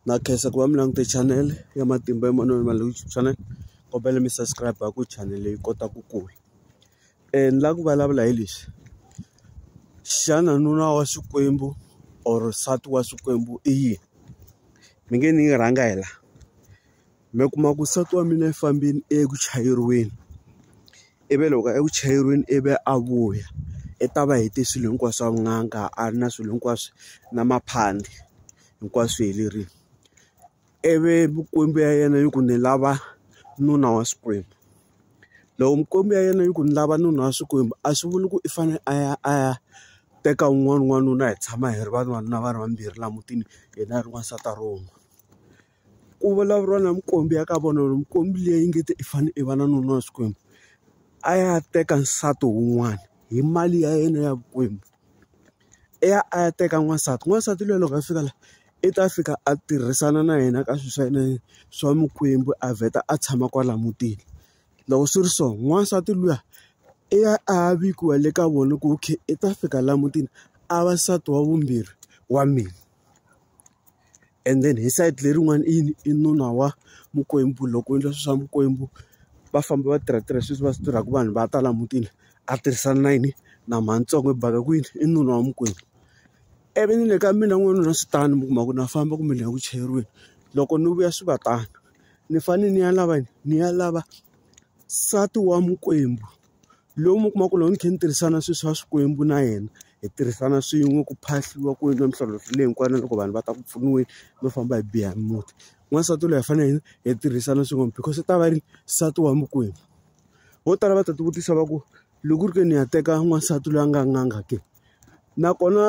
na khensa ku va mi langute channel ya matimba emanoni ma YouTube channel kombela mi subscribe ku channel leyi kota ku kula eh, ni la ku vulavula hi lexi xana nuna wa xikwembu or nsati wa xikwembu i yini mi nge ni yi rhanga hi la mi kuma ku nsati wa mina i fambile i ye ku chayeriweni ivi loko eku chayeriweni i vi a vuya i ta va hete swilo hinkwaswo swa vunanga a ri na swilo hinkwaswo na maphandi hinkwaswo swi helerile ivi mikwembu ya yena yi ku ni lava nuna wa xikwembu loko mikwembu ya yena yi ku ni lava nuna wa xikwembu a swi vuli ku i fanele a ya a ya teka wun'wana n'wanuna hi tshama hi ri vanhu vanuna va ri vambirhi laha mutini yena a ri n'wansati a ri wun'we. Ku vulavuriwa na minkwmbi ya ka vona loko minkwmbi liya yi nge te i fane i va na nuna wa xikwembu a ya teka nsati wun'wana hi mali ya yena ya vukwembu i ya a ya teka n'wansati n'wansati luya loko a fika la i ta fika a tirhisana na yena ka swilo swa yena swa mikwembu a vheta a tshama kwala mutini loko swi ri so n'wansati luya i ya a ya vikiwa le ka vona ku okay i ta fika la mutini a va nsati wa vumbirhi wa mina. and then hi sayiti lerin'wani i yini i nuna wa mikwembu loko u endla swilo swa mikwembu va famba va tirha tirha sweswi va swi tirhaka vanhu va ta laha mutini a tirhisana na yini na mhani ntsongo i baka kwini i nuna wa mikwembu ivi ni le ka mina n'wanuna na swi tano mi kuma ku na famba kumbe ni ya ku chayeriweni loko ni vuya swi va tano ni fanele ni ya lava yini ni ya lava nsati wa mikwembu. lowu mi kuma ku loko ni kha ni tirhisana sweswi swa swikwembu na yena hi tirhisana swin'we ku phahliwa ku endliwa mintlhontlho leyi hinkwana loko vanhu va ta ku pfuniweni no famba hi biha muti n'wansati loyi hi fanele hi tirhisana swin'we because u ta va ri nsati wa mikwembu vo tala va ta tivutisa va ku loko ku ri ke ni ya teka n'wansati loyi a nga nganga ke Nakona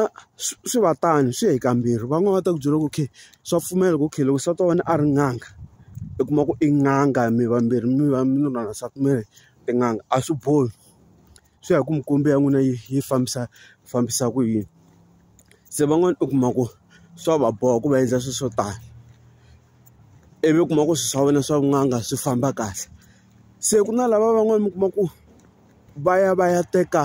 swi swi va tano swi ya hi kambirhi van'wani va ta ku byela ku okay swa pfumela ku okay loko nsati wa wena a ri n'anga i kuma ku i n'anga mi vambirhi mi va mi ri na nsati mi ri tin'anga a swi bohi swi ya hi ku mikwembu ya n'wina yi yi fambisa fambisa ku yini se van'wani u kuma ku swa va boha ku va endla swilo swo tani ivi u kuma ku swilo swa wena swa vun'anga swi famba kahle se ku na lava van'wani mi kuma ku va ya va ya teka.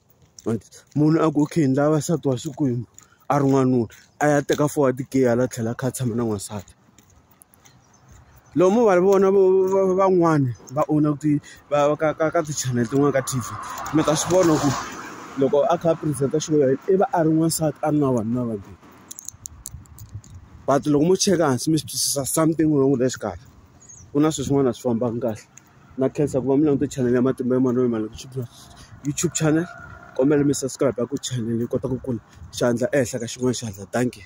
munhu a ku okay ni lava nsati wa Xikwembu a ri n'wanuna a ya teka four wa ti-gay hala tlhelo a kha a tshama na n'wansati lomu va vona van'wani va owna ti va ka ka ka ti-channel tin'wani ka T_V mi ta swi vona ku loko a kha a present-a xilo xa yena i va a ri n'wansati a ri na vanhu na vambirhi but loko mo cheka hansi mi swi twisisa something wrong la xikarhi ku na swilo swin'wana a swi fambangi kahle. na khensa ku va mi langute chanele ya matimba ya manana ma YouTube channel kombela mi subscribe ku chanele yi kota ku kula xandla ehenhla ka xin'wana xandla dankie.